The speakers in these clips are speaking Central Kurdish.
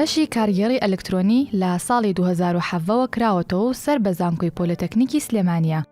بەشی کارگێڕی ئەلکترۆنی لە ساڵی 2017ەوە کراوەتەوە و سەر بە زانکۆی پۆلەتەکنیکی سلێمانیە.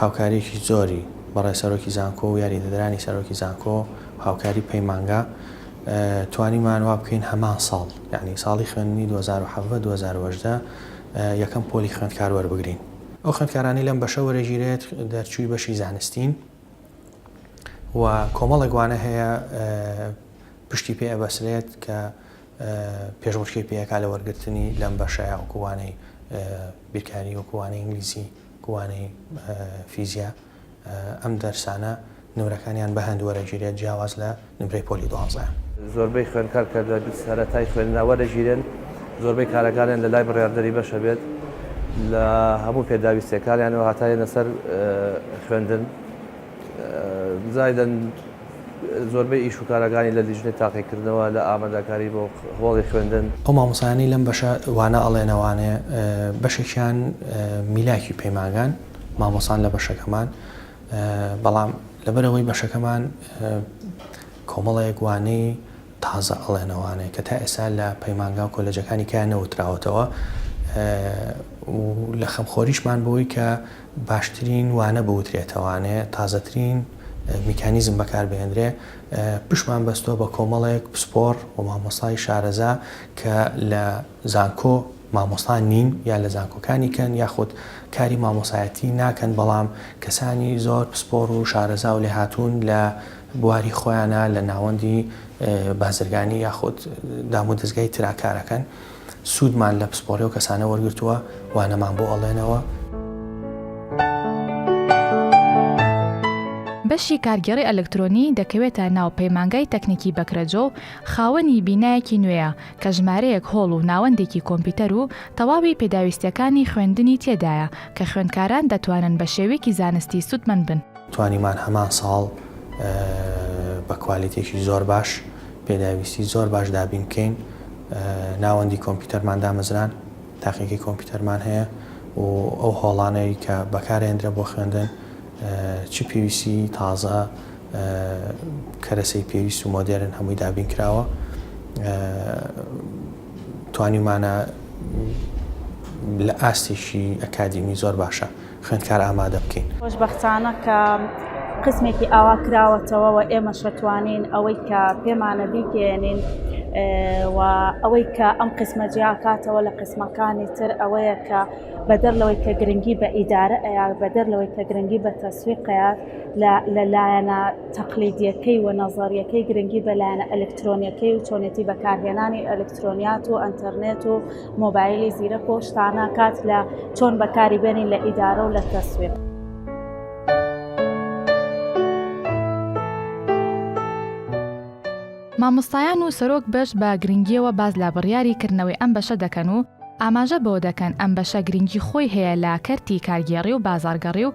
هاوکارییەکی زۆری بەڕێ سەرۆکی زانکۆ و یاریدەدەرانی سەرۆکی زانکۆ و هاوکاری پەیمانگا توانیمان وا بکەین هەمان ساڵ یعنی ساڵی خوێندنی دوو هەزار و حەڤدە دوو هەزار و هەژدە یەکەم پۆلی خوێندکار وەربگرین. ئەو خوێندکارانەی لەم بەشە وەرەگیرێت دەرچووی بەشی زانستین و کۆمەڵێک وانە هەیە پشتی پێ ئەبەسرێت کە پێشبڕکێی پێکا لە وەرگرتنی لەم بەشە یاوەکو وانەی بیرکاری وەکو وانەی ئینگلیزی. وانەی فیزیا، ئەم دەرسانە نمرەکانیان بە هەند وەرەگیرێت جیاواز لە نمرەی پۆلی دوانزە. زۆربەی خوێندکار کە لە سەرەتای خوێندنا وەرەگیرێن زۆربەی کارەکانیان لە لای بڕیاردەری بەشە بێت لە هەموو پێداویستیەکانیانەوە هەتا یەنە سەر خوێندن. زایدەن زۆربەی ئیش و کارەکانی لە لیژنەی تاقیکردنەوە لە ئامادەکاری بۆ هۆڵی خوێندن. ئەو مامۆستایانەی لەم بەشە وانە ئەڵێن ئەوانێ بەشێکیان میلاکی پەیمانگان مامۆستان لە بەشەکەمان بەڵام لەبەرەوەی بەشەکەمان کۆمەڵەیەک وانەی تازە ئەڵێن ئەوانێ کە تا ئێستا لە پەیمانگا و کۆلێجەکانی کەیان نەوتراوەتەوە و لە خەمخۆریشمان بەوەی کە باشترین وانە بوترێتەوانێ تازەترین میکانیزم بەکاربهێنرێ پشمان بەستۆ بە کۆمەڵێک پسپۆر و مامۆستای شارەزا کە لە زانکۆ مامۆستا نین یا لە زانکۆکانی کەن یاخود کاری مامۆسایەتی ناکەن بەڵام کەسانی زۆر پسپۆر و شارەزا و لێ هاتوون لە بواری خۆیانە لە ناوەندی بازرگانی یاخود دامودەزگای تراکارەکەن سوودمان لە پسپۆڕی ئەو کەسانە وەرگرتووە وانەمان بۆ ئەڵێنەوە. بەشی کارگێڕی ئەلکترۆنی دەکەوێتە ناو پەیمانگای تەکنیکی بەکرەجۆ و خاوەنی بینایەکی نوێیە کە ژمارەیەک هۆڵ و ناوەندێکی کۆمپیوتەر و تەواوی پێداویستییەکانی خوێندنی تێدایە کە خوێندکاران دەتوانن بە شێویکی زانستی سوودمەند بن. توانیمان هەمان ساڵ بە کوالیتییەکی زۆر باش پێداویستی زۆر باش دابین بکەین ناوەندی کۆمپیوتەرمان دامەزران تاقیگەی کۆمپیوتەرمان هەیە و ئەو هۆڵانەی کە بەکارێندرە بۆ خوێندن چ پێویستی تازە کەرەسەی پێویست و مۆدێرن هەمووی دابین کراوە توانیمانە لە ئاستێکی ئەکادیمی زۆر باشە خوێندکار ئامادە بکەین. خۆشبەختانە کە قسمێکی ئاوا کراوەتەوە و ئێمەش ئەتوانین ئەوەی کە پێمانە بیگەیەنین و ئەوەی کە ئەم قسمە جیاکاتەوە لە قسمەکانی تر ئەوەیە کە بەدەر لەوەی کە گرنگی بە ئیدارە ئەیا بەدەر لەوەی کە گرنگی بە تەسویقەیە لە لایەنە تەقلیدیەکەی و نەزەریەکەی گرنگی بە لایەنە ئەلکترۆنیەکەی و چۆنێتی بەکارهێنانی ئەلکترۆنیات و ئەنتەرنێت و مۆبایلی زیرەک و شتانە کات لە چۆن بەکاری بێنین لە ئیدارە و لە تەسوێت. مامۆستایان و سەرۆک بەش بە گرنگیەوە باس لە بڕیاری کردنەوەی ئەم بەشە دەکەن و ئاماژە بەوە دەکەن ئەم بەشە گرنگی خۆی هەیە لە کەرتی کارگێڕی و بازاڕگەڕی و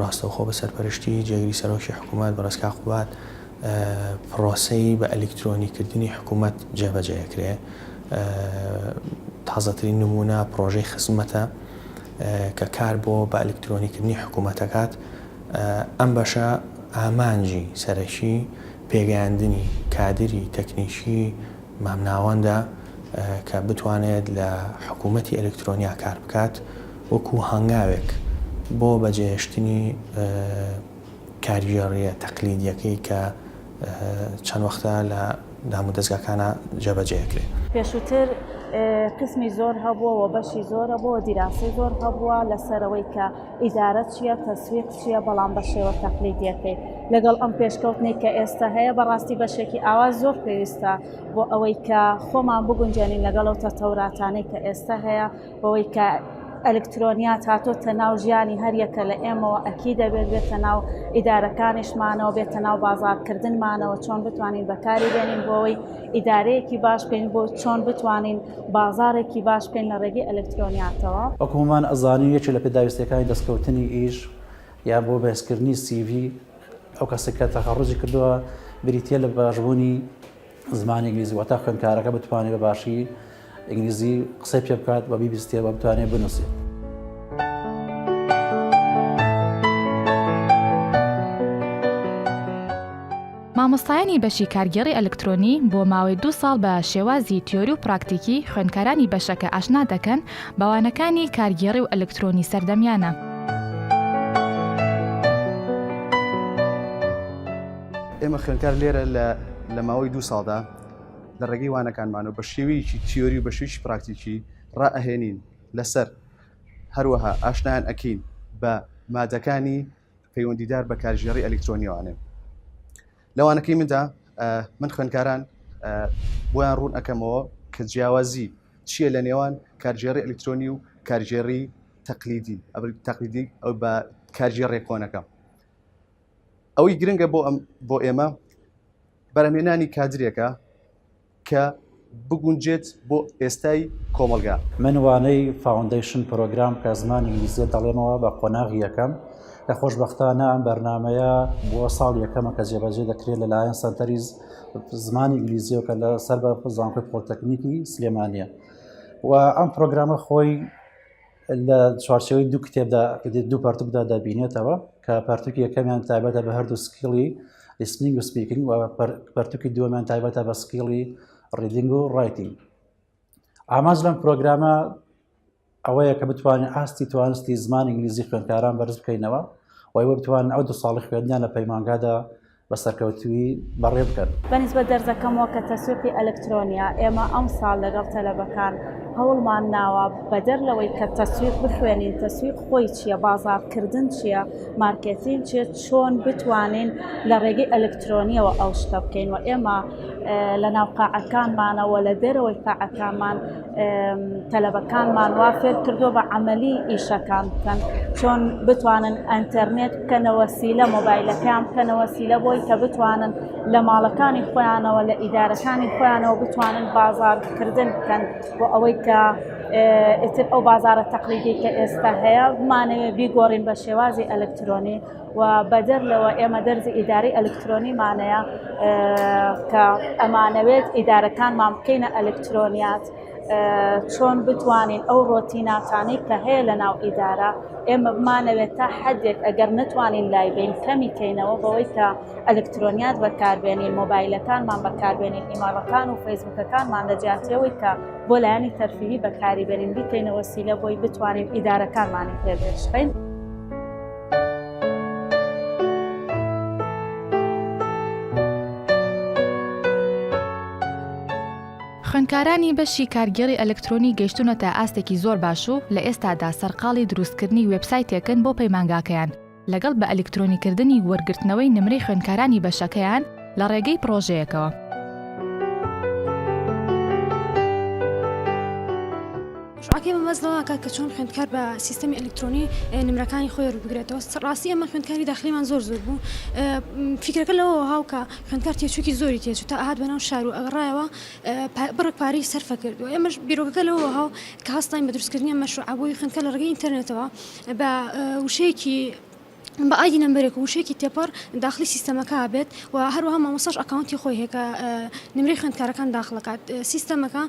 ڕاستەوخۆ بە سەرپەرشتی جێگری سەرۆکی حکوومەت بەڕێز کاک قوباد پڕۆسەی بە ئەلیکترۆنی کردنی حکوومەت جێبەجێ ئەکرێ. تازەترین نموونە پڕۆژەی خزمەتە کە کار بۆ بە ئەلیکترۆنی کردنی حکوومەت ئەکات. ئەم بەشە ئامانجی سەرەکی پێگەیاندنی کادری تەکنیکی مامناوەندە کە بتوانێت لە حکوومەتی ئەلیکترۆنیا کار بکات. وەکو هەنگاوێک بۆ بەجێهێشتنی کارگێڕییە تەقلیدییەکەی کە چەند وەختە لە دامودەزگاکانا جێبەجێ ئەکرێ. پێشووتر قیسمی زۆر هەبووە و بەشی زۆر هەبووە و دیراسەی زۆر هەبووە لەسەر ئەوەی کە ئیدارە چییە، تەسویق چییە، بەڵام بە شێوە تەقلیدییەکەی. لەگەڵ ئەم پێشکەوتنەی کە ئێستە هەیە، بەڕاستی بەشێکی ئاوا زۆر پێویستە بۆ ئەوەی کە خۆمان بگونجێنین لەگەڵ ئەو تەتەوراتانەی کە ئێستە هەیە، بەوەی کە ئەلکترۆنیات هاتۆتە ناو ژیانی هەریەکە لە ئێمەوە ئەکی دەبێت بێتە ناو ئیدارەکانیشمانەوە بێتە ناو بازارکردنمانەوە چۆن بتوانین بەکاری بێنین بۆەوەی ئیدارەیەکی باش بین بۆ چۆن بتوانین بازارێکی باش بکەین لە ڕێگەی ئەلکترۆنیاتەوە. وەکو هەموومان ئەزانین یەکێک لە پێداویستیەکانی دەستکەوتنی ئیش یان بۆ بەهێزکردنی سیڤی ئەو کەسە کە تەخەڕوجی کردووە بریتیە لە باشبوونی زمانی ئینگلیزی واتە خوێندکارەکە بتوانێت بە باشی ئینگلیزی قسەی پێ بکات بە بیبیستێ بە بتوانێت بنووسێت. مامۆستایانی بەشی کارگێڕی ئەلکترۆنی بۆ ماوەی دو ساڵ بە شێوازی تیۆری و پراکتیکی خوێندکارانی بەشەکە ئاشنا دەکەن بەوانەکانی کارگێڕی و ئەلکترۆنی سەردەمیانە. ئێمە خوێنکار لێرە لە ماوەی دوو ساڵدا لە ڕێگەی وانەکانمانەوە بە شێویکی تیۆری و بە شویش پراکتیکی ڕائەهێنین لەسەر هەروەها ئاشنان ئەکەین بە مادەکانی پەیوەندیدار بە کارژێڕی ئەلکترۆنیوانێ لەوانەکەی مندا من خوێنکاران بۆیان ڕوون ئەەکەمەوە کە جیاوازی چییە لە نێوان کارژێڕی ئەلکترۆنی و کارژێڕی تەقلیدی تەقلیدی ئەو بە کارژێ ڕێکۆنەکە ئەوەی گرنگە بۆ ئەم بۆ ئێمە بەرەمێنانی کادرێکە کە بگونجێت بۆ ئێستای کۆمەلگا من وانەی فاوندیشن پرۆگرام کە زمان ئینگلیزیە دەڵێمەوە بە قۆناغی یەکەم لە خۆشببختانە ئەم بەرنمەیە بۆ ساڵ یەکەمە کە جێبەجێ دەکرێت لەلایەن سەنتەری زمانی ئینگلیزیەوە کە لە سەر بە زانکۆی پۆلتەکنیکی سلێمانە و ئەم پرۆگرامە خۆی لە چوارچەوەی دوو کتێبدا دوو پارتوکدا دەبینێتەوە کە پارتوکی یەکەمیان تایبەتە بە هەردوو سکیڵی لیسنینگ و سپیکینگ و پارتوکی دووەمیان تایبەتە بە سکیڵی ڕیدینگ و ڕایتینگ ئاماز لەم پرۆگرامە ئەوەیە کە بتوانین ئاستی توانستی زمان ئینگلیزی خوێندکاران بەرز بکەینەوە وای وە بتوان ئەو دو ساڵی خوێندنیان لە پەیمانگادا بە سەرکەوتوویی بەڕێ بکەن. بە نیسبەت دەرزەکەمەوە کە تەسویقی ئەلکترۆنییە، ئێمە ئەمساڵ لەگەڵ تەلەبەکان هەوڵمان ناوە بەدەر لەوەی کە تەسویق بخوێنین، تەسویق خۆی چییە، بازاڕکردن چییە، مارکێتین چییە، چۆن بتوانین لە ڕێگەی ئەلکترۆنییەوە ئەو شتە بکەین و ئێمە لە ناو قاعەکانمانەوە و لە دەرەوەی قاعەکانمان تەلەبەکانمان وا فێر کردووە بە عملی ئیشەکان بکەن چۆن بتوانن ئەتەرنێت بکەنەوە سی لە مۆبایلەکەیان بکەنەوە سی لە بۆی کە بتوانن لە ماڵەکانی خۆیانەوە لە ئیدارەکانی خۆیانەوە بتوانن بازارکردن بکەن بۆ ئەوەی کە ئیتر ئەو بازارە تەقلیدی کە ئێستا هەیە بمانەوێ بیگۆڕین بە شێوازی ئەلکترۆنی و بەدەر لەوە ئێمە دەرزی ئیدارەی ئەلکترۆنیمانەیە کە ئەمانەوێت ئیدارەکانمان بکەینە ئەلکترۆنیات چۆن بتوانین ئەو ڕۆتیناتانەی کە هەیە لە ناو ئیدارە ئێمە بمانەوێت تا حدێک ئەگەر نتوانین لای بین کەمی کەینەوە بەوەی کە ئەلکترۆنیات بەکاربێنین مۆبایلەکانمان بەکاربێنین ئیماڵەکان و فەیسبوکەکانمان لە جیاتیەوەی کە بۆ لایەنی تەرفیهی بەکاری بێنین بیکەینەوە سیلە بۆی بتوانین ئیدارەکانمانی پێگەشتین. خوێندکارانی بەشی کارگێڕی ئەلکترۆنی گەشتونەتە ئاستێکی زۆر باش و لە ئێستادا سەرقاڵی دروستکردنی وێبسایتێکن بۆ پەیمانگاکەیان لەگەڵ بە ئەلکترۆنیکردنی وەرگرتنەوەی نمرەی خوێندکارانی بەشەکەیان لە ڕێگەی پرۆژەیەکەوە. شوعاکەی مەبەست لەوەکات کە چۆن خوێندکار بە سیستەمی ئەلکترۆنی نمرەکانی خۆی ڕووبگرێتەوە ڕاستی ئەمە خوێندکاری داخلیمان زۆر زۆر بوو فکرەکە لەوە هاوکە خوێندکار تێچووکی زۆری تێچوو تا ئاهات بەناو شار و ئەگەڕایەوە بڕک پارەی سەرفە کردو ئێمەش بیرۆکەکە لەوە هاو کە هەستاین بە دروستکردنی مەشروع بۆی خوێندکە لە ڕگەی ئینتەرنێتەوە بە وشەیەکی بە ئایدی نەمبەرێک و وشەیەکی تێپەڕ داخلی سیستەمەکە ئەبێت و هەروەها مامۆستاش ئەکاونتی خۆی هەیە کە نمرەی خوێندکارەکان داخڵ دەکات سیستەمەکە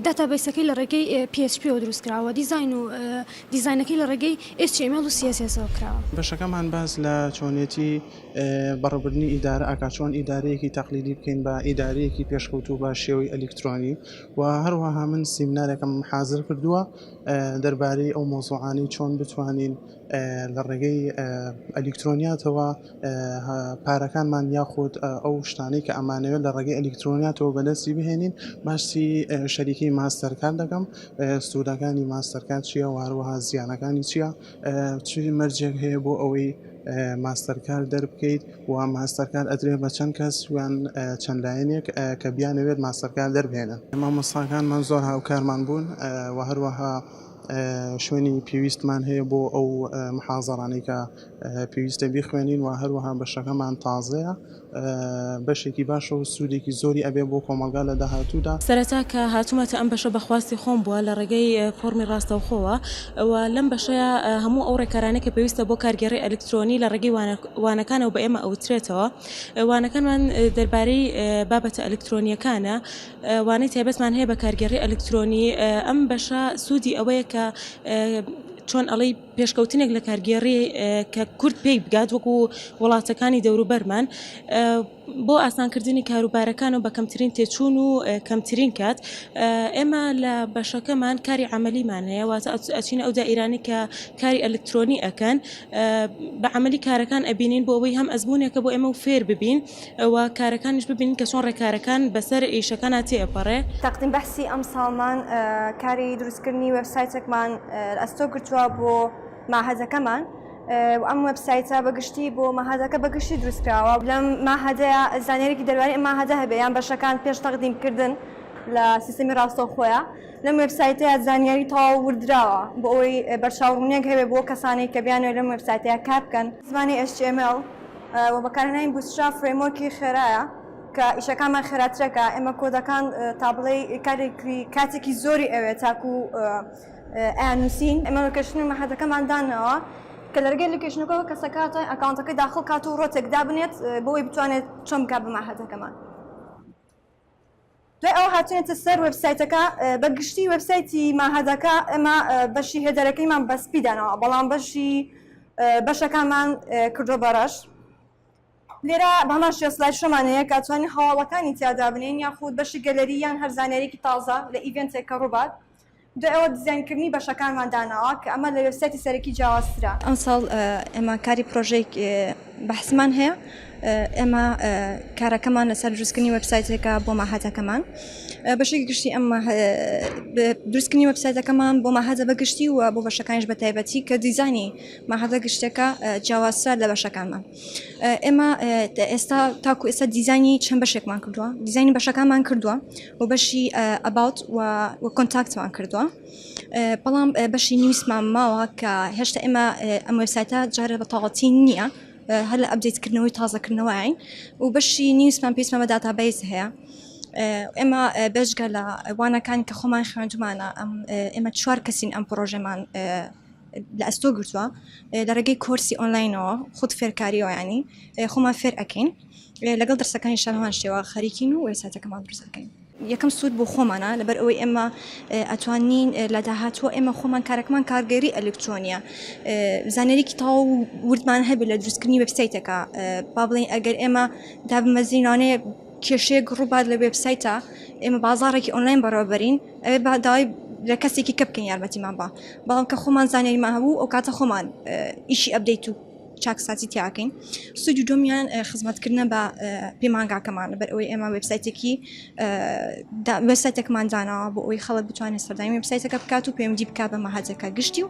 داتابەیسەکەی لە ڕێگەی PHP و دروست کراوە دیزاین و دیزاینەکەی لە ڕێگەی HTML و CSS ەوە کراوە. بەشەکەمان باس لە چۆنێتی بەڕێوبردنی ئیدارە ئەکات چۆن ئیدارەیەکی تەقلیدی بکەین بە ئیدارەیەکی پێشکەوتوو بە شێوەی ئەلیکترۆنی و هەروەها من سیمنارێکم حازر کردووە دەربارەی ئەو مەوزوعانەی چۆن بتوانین لە ڕێگەی ئەلیکترۆنیاتەوە پارەکانمان یاخود ئەو شتانەی کە ئەمانەوێت لە ڕێگەی ئەلیکترۆنیاتەوە بەدەستی بهێنین باسی شەریکی ماستەرکان دەکەم سوودەکانی ماستەرکان چییە واروها زیانەکانی چییە چ مەرجێک هەیە بۆ ئەوەی ماستەرکار دەربکەیت و ماستەرکار ئەدرێ بە چەند کەس ویان چەند لایەنێک کە بیانەوێت ماستەرکار دەربێنن مامۆستاکانمان زۆر هاوکارمان بوون و هەروەها شوێنی پێویستمان هەیە بۆ ئەو محازەڕانەی کە پێویستە بیخوێنین و هەروەها بەشەکەمان تازەیە بەشێکی باشە و سوودێکی زۆری ئەبێ بۆ کۆمەڵگا لە داهاتوودا. سەرەتا کە هاتوومەتە ئەم بەشە بە خواستی خۆم بووە لە ڕێگەی فۆڕمی ڕاستەوخۆوە و لەم بەشەیا هەموو ئەو ڕێکارانەی کە پێویستە بۆ کارگێڕی ئەلیکترۆنی لە ڕێگەی وانەکانەوە بە ئێمە ئەوترێتەوە. وانەکانمان دەربارەی بابەتە ئەلیکترۆنییەکانە وانەی تایبەتمان هەیە بە کارگێڕی ئەلکترۆنی ئەم بەشە سوودی ئەوەیە کە چۆن ئەڵی پێشکەوتنێک لە کارگێڕی کە کورد پێی بگات وەکو وڵاتەکانی دەوروبەرمان بۆ ئاسانکردنی کاروبارەکان و بە کەمترین تێچوون و کەمترین کات ئێمە لە بەشەکەمان کاری عملیمان هەیە واتە ئەچین ئەو دائیرانی کە کاری ئەلکترۆنی ئەەکەن بە عملی کارەکان ئەبینین بۆ ئەوەی هەم ئەزمونونێکە بۆ ئێمە و فێر ببین. و کارەکانیش ببینین کە چۆن ڕێکارەکان بەسەر ئیشەکانا تێ ئەپەڕێ. تەقدیم بەحسی ئەمساڵمان کاری دروستکردنی وێبسایتێکمان ئەستۆ گرتوە بۆ مەعهەدەکەمان و ئەم وێبسایتە بە گشتی بۆ مەعهەدەکە بە گشتی دروستکراوە. لەم مەعهەدەیا زانیاریەکی دەروانی ئەم مەعهەدە هەبێ یان بەشەکان پێش تەقدیم کردن لە سیستەمی ڕاستەوخۆیە لەم وێبسایتەیا زانیاری تەواو وردراوە بۆ ئەوەی بەرچاو ڕوونیەک هەبێ بۆ کەسانەی کە بیانەوێ لەم وێبسایتەیا کار بکەن. زمانی HTML و بەکارهێنانی بوتستراب فرەیمۆرکی خێرایە کە ئیشەکانمان خێراترەکە ئێمە کۆدەکان تا بڵێی کارێکی کاتێکی زۆری ئەوێت تاکو ئەیان نووسین ئێمە لۆکێشنی مەحەدەکەمان داناوە کە لەرگەی لۆکێشنەکەەوە کەسە کاتە ئەکاونتەکەی داخڵ کات و ڕۆتێک دابنێت بۆی بتوانێت چۆن بکات بە مەحەدەکەمان. دوای ئەوە هاتوینەتە سەر وێبسایتەکە بە گشتی وێبسایتی ماهەدەکە ئێمە بەشی هێدەرەکەیمان بە سپی داناوە بەڵام بەشی بەشەکانمان کردوە بە ڕەش لێرە بەمان شێ سلای شەمانەیە کاتوانین هەواڵەکانی تیادا بنین یاخود بەشی گەلەری یان هەر زانیارێکی تازە لە ئیڤێنتێک کە ڕووبات دوای ئەوە دیزاینکردنی بەشەکانمان داناوە کە ئەمە لە وێبسایتی سەرەکی جیاوازترە. ئەمساڵ ئێمە کاری پڕۆژەیەک بەحسمان هەیە، ئێمە کارەکەمان لەسەر دروستکردنی وێبسایتێکە بۆ مەعهەدەکەمان. بەشێکی گشتی ئەم دروستکردنی وێبسایتەکەمان بۆ مەعهەدە بە گشتی و بۆ بەشەکانیش بە تایبەتی کە دیزاینی مەعهەدە گشتەکە جیاوازترە لە بەشەکانمان. ئێمە ئێستا تاکو ئێستا دیزانی چەند بەشێکمان کردووە دیزانی بەشەکانمان کردووە و بەشی ئەباوت و کۆنتاکتمان کردووە بەڵام بەشی نیویسمان ماوە کە هێشتا ئێمە ئەم وبسایتە جارە بە تاڵەتی نییە هەر لە ئەبدیتکردنەوەی تازەکردنەوەین و بەشی نیویسمان پێیسمان بە داتابیس هەیە. ئێمە بێژگە لە وانەکان کە خۆمان خوێندمانە ئەم ئێمە چوار کەسین ئەم پرۆژەمان لە ئەستۆ گرتووە لە ڕێگەی کۆرسی ئۆنلاینەوە خود فێرکاریەوە ینی خۆمان فێر ئەەکەین لەگەڵ دەرسەکانی شەهوان شێوە خەریکین و وێساتەکەمان درزەکەین یەکەم سوود بۆ خۆمانە لەبەر ئەوەی ئێمە ئەتوانین لە داهاتوە ئێمە خۆمان کارەکەمان کارگەری ئەلکترۆنیە زانەرێکی تاو وردمان هەبێت لە دروستکردنی وبسایتەکە با بڵین ئەگەر ئێمە دابمەزینانەیە کێشەیەک ڕووبات لە وێبسایتە ئێمە بازاڕێکی ئۆنلاین بەڕێوەبەرین ئەوێ با داوای لە کەسێکی کە بکەین یارمەتیمان با بەڵام کە خۆمان زانیاریمان هەبوو ئەو کاتە خۆمان ئیشی ئەبدەیت و چاکسازی تیاکەین سوودی دومیان خزمەتکردە بە پەیمانگاکەمان بەر ئەوەی ئێمە وبسایتێکی وساتێکمان داناوە بۆ ئەوی خەڵک بتوانێت سەردانی وبسایتەکە بکات و پەیوەندی بک بە مەهاتەکە گشتی و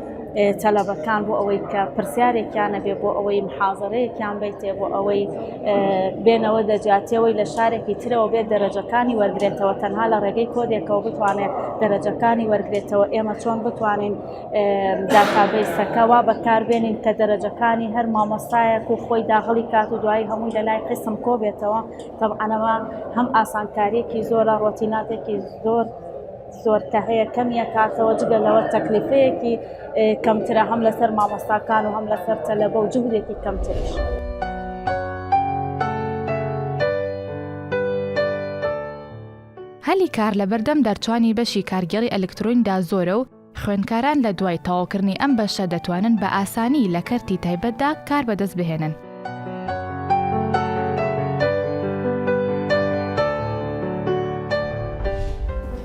تەلەبەکان بۆ ئەوەی کە پرسیارێکیان نەبێ بۆ ئەوەی محازەرەیەکیان بیتێ بۆ ئەوەی بێنەوە دەجاتیەوەی لە شارێکی ترەوە بێت دەرەجەکانی وەرگێتەوە تەنها لە ڕێگەی کۆدێکەوە بتوانێت دەرەجەکانی وەرگێتەوە ئێمە چۆن بتوانین داخابیسەکە وا بەکاربێنین کە دەرەجەکانی هەر مامۆستایەک و خۆی داغڵی کات و دوایی هەمووی لە لای قسم کۆبێتەوە تەبعەنەوە هەم ئاسانکاریەکی زۆرە ڕۆتیناتێکی زۆر زۆر کە هەیە کەمی ئەکاتەوە جگە لەوە تەکلیفەیەکی کەمترە هەم لەسەر مامۆستاکان و هەم لەسەر تەلەبە و جهدێکی کەمتریش. هەلی کار لە بەردەم دەرچوانی بەشی کارگێڕی ئەلکترۆنیدا زۆرە و خوێندکاران لە دوای تەواوکردنی ئەم بەشە دەتوانن بە ئاسانی لە کەرتی تایبەتدا کار بەدەست بهێنن.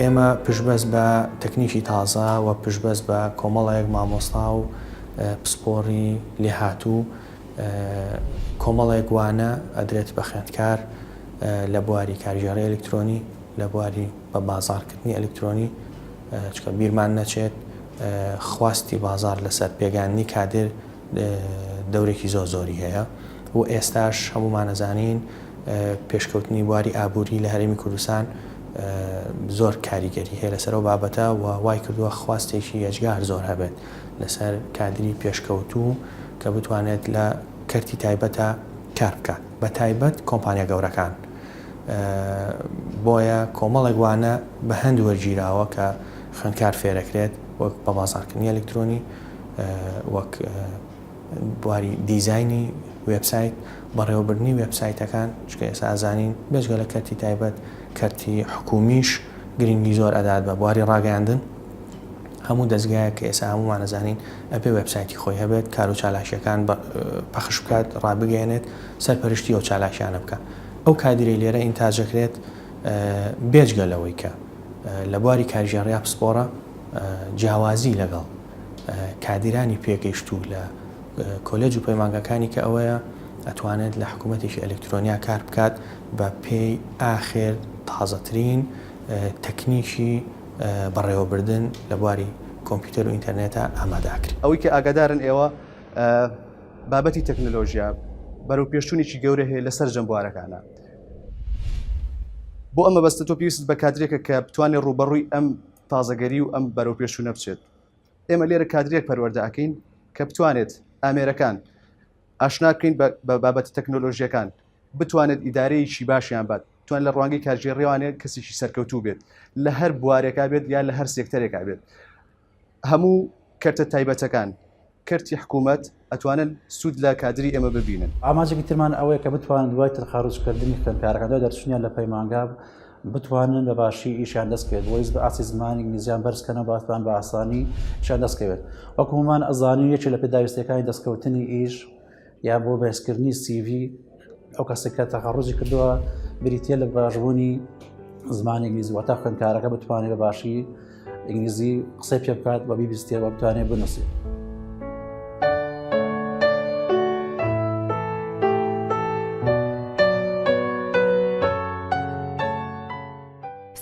ئێمە پشبەست بە تەکنیکی تازە و پشبەست بە کۆمەڵێک مامۆستا و پسپۆڕی لێهاتوو کۆمەڵێک وانە ئەدرێت بە خوێندکار لە بواری کارگێڕی ئەلکترۆنی لە بواری بە بازارکردنی ئەلکترۆنی چکە بیرمان نەچێت خواستی بازار لەسەر پێگاننی کادر دەورێکی زۆر زۆری هەیە و ئێستاش هەموومان ئەزانین پێشکەوتنی بواری ئابووری لە هەرێمی کوردستان زۆر کاریگەری هەیە لەسەر و بابەتە و وای کردووە خواستێکی ئەجگار زۆر هەبێت لەسەر کادری پێشکەوتوو کە بتوانێت لە کەرتی تایبەتە کار بکات بە تایبەت کۆمپانیا گەورەکان بۆیە کۆمەڵێک وانە بە هەند وەرگیراوە کە خوێنکار فێرەکرێت وەک بە بازارکردنی ئەلکترۆنی وەک بواری دیزاینی وێبسایت، بەڕێوەبردنی وێبسایتەکان، چونکە ئێستا ئەزانین بێجگە لە کەرتی تایبەت، کەرتی حکوومیش گرنگی زۆر ئەدات بە بواری ڕاگەیاندن. هەموو دەزگایەک کە ئێستا هەموومان ئەزانین ئەبێ وێبسایتی خۆی هەبێت، کار و چالاکییەکان پەخش بکات، ڕابگەیەنێت، سەرپەرشتی ئەو چالاکییانە بکات. ئەو کادیرەی لێرە ئینتاج ئەکرێت بێجگە لەوەی کە لە بواری کارگێڕیا پسپۆڕە، جیاوازی لەگەڵ کادیرانی پێگەیشتوو لە کۆلێج و پەیمانگەکانی کە ئەوەیە ئەتوانێت لە حکوومەتێکی ئەلکترۆنیا کار بکات بە پێی ئاخێر تازەترین تەکنیکی بەڕێوەبردن لە بواری کۆمپیوتەر و ئینتەرنێتە ئامادە ئەکرێت. ئەوەی کە ئاگادارن ئێوە بابەتی تەکنەلۆژیا بەرەوپێشچوونێکی گەورە هەیە لە سەرجەم بوارەکانە بۆ ئەم مەبەستە تۆ پێویستت بە کادرێکە کە بتوانێت ڕووبەڕووی ئەم تازەگەری و ئەم بەرەوپێشچوونە بچێت ئێمە لێرە کادرێک پەروەەردە ئەکەین کە بتوانێت ئامێرەکان ئاشنا بکەین بە بابەتە تەکنۆلۆژیەکان بتوانێت ئیدارەیەکی باشیان بات توان لە ڕوانگەی کارژێ ڕێوانێت کەسێکی سەرکەوتوو بێت لە هەر بوارێکا بێت یا لە هەر سێکتەرێکا بێت هەموو کەرتە تایبەتەکان کەرتی حکوومەت ئەتوانن سوود لە کادری ئێمە ببینن. ئامانجێکی ترمان ئەوەیە کە بتوانن دوای ترخاروچکردنی خوێندکارەکان دوای دەرچوونیان لە پەیمانگا بتوانن بە باشی ئیشیان دەست بکەوێت بۆیس بە ئاسی زمانی ئینگلیزیان بەرزکەنەوە باتوان بە ئاسانی شان دەستکەوێت وەکومان ئەزانی یەکێ لە پێداویستەکانی دەستکەوتنی ئیش یا بۆ بەرزکردنی سیڤی ئەو کەسێک کە تەخەڕۆژی کردووە بریتە لە باشبوونی زمان ئینگلیزی واتە خوێندکارەکە بتوانێت بە باشی ئینگلیزی قسەی پێ بکات بە بیبیستێەوە بتوانێت بنووسێت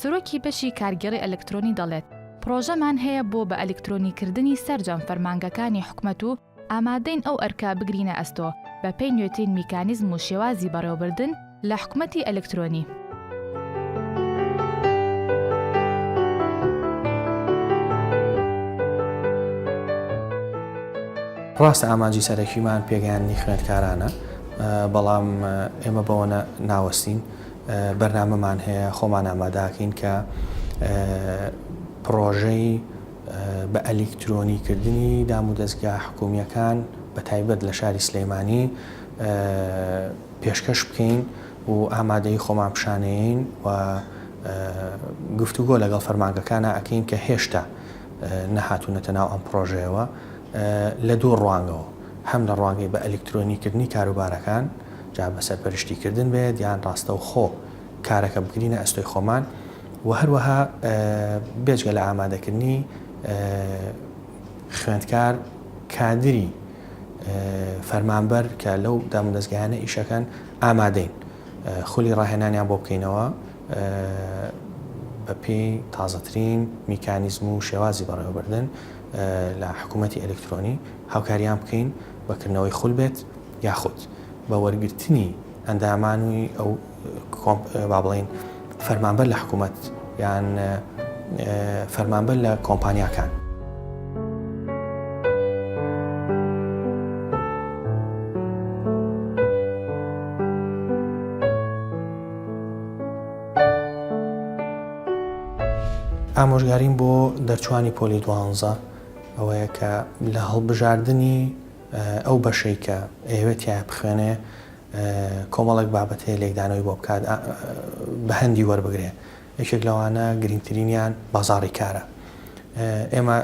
سەرۆکی بەشی کارگەڕی ئەلکترۆنی دەڵێت پرۆژەمان هەیە بۆ بە ئەلکترۆنیکردنی سەرجەم فەرمانگەکانی حکومەت و ئامادەین ئەو ئەرکە بگرینە ئەستۆ بەپێی نوێترین میکانیزم و شێوازی بەڕێوەبردن لە حکومەتی ئەلکترۆنی. ڕاستە ئامانجی سەرەکیمان پێگەیاندنی خوێندکارانە، بەڵام ئێمە بەوە ناوەستین، بەرنامەمان هەیە، خۆمان ئامادەکەین کە پڕۆژەی، بە ئەلیکترۆنی کردنی دام و دەزگا حکوومییەکان بە تایبەت لە شاری سلێمانی پێشکەش بکەین و ئامادەی خۆمان پیشانەیەین و گفتوگۆ لەگەڵ فەرمانگەکانا ئەکەین کە هێشتا نەهاتوونەتە ناو ئەم پڕۆژەیەوە لە دوو ڕوانگەوە هەم لە ڕوانگەی بە ئەلیکترۆنی کردنی کاروبارەکان جا بە سەرپەرشتی کردن بێت یان ڕاستەوخۆ کارەکە بگرینە ئەستۆی خۆمان و هەروەها بێجگە لە ئامادەکردنی خوێندکار کادری فەرمانبەر کە لەو دامودەزگایانە ئیشەکەن ئامادەین خولی ڕاهێنانیان بۆ بکەینەوە بە پێی تازەترین میکانیزم و شێوازی بەڕێوەبردن لە حکوومەتتی ئەلکترۆنی هاوکاریان بکەین بەکردنەوەی خول بێت یاخود بە وەرگرتنی ئەندامانوی ئەو با بڵێین فەرمانبەر لە حکوومەت یان فەرمانبەر لە کۆمپانیاکان. ئامۆژگاریم بۆ دەرچوانی پۆلی دوانزە ئەوەیە کە لە هەڵبژاردنی ئەو بەشەی کە ئەوێتیان بخوێنێ کۆمەڵێک بابەت هەیە لێکدانەوەی بۆ بکات بەهەندی وەربگرێ یەکێک لەوانە گرنگترینیان بازاڕی کارە ئێمە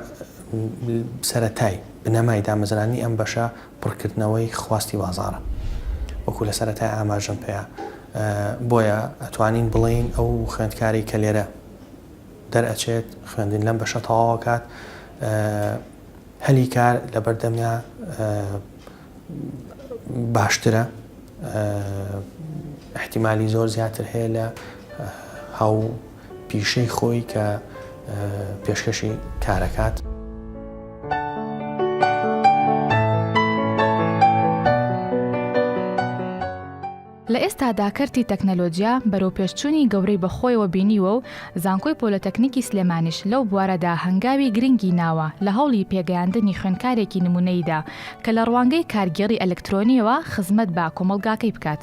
سەتای بنەمای دامەزرانی ئەم بەشە پڕکردنەوەی خواستی بازارە وەکو لە سەتای ئاماژم پێ بۆیە ئەتوانین بڵین ئەو خوێندکاری کە لێرە دەرئەچێت خوێندن لەم بەشە تەواوکات هەلی کار لەبەردەمیا باشترە احتیمالی زۆر زیاتر هەیە لە هاو پیشەی خۆی کە پێشکەشی کارەکات. لە ئێستادا کەرتی تەکنەلۆجیا بەرەوپێشچوونی گەورەی بەخۆیەوە بینیوە و زانکۆی پۆلەتەکنیکی سلێمانیش لەو بوارەدا هەنگاوی گرنگی ناوە لە هەوڵی پێگەیاندنی خوێندکارێکی نمونەییدا کە لە ڕوانگەی کارگێڕی ئەلکترۆنییەوە خزمەت بە کۆمەڵگاکەی بکات.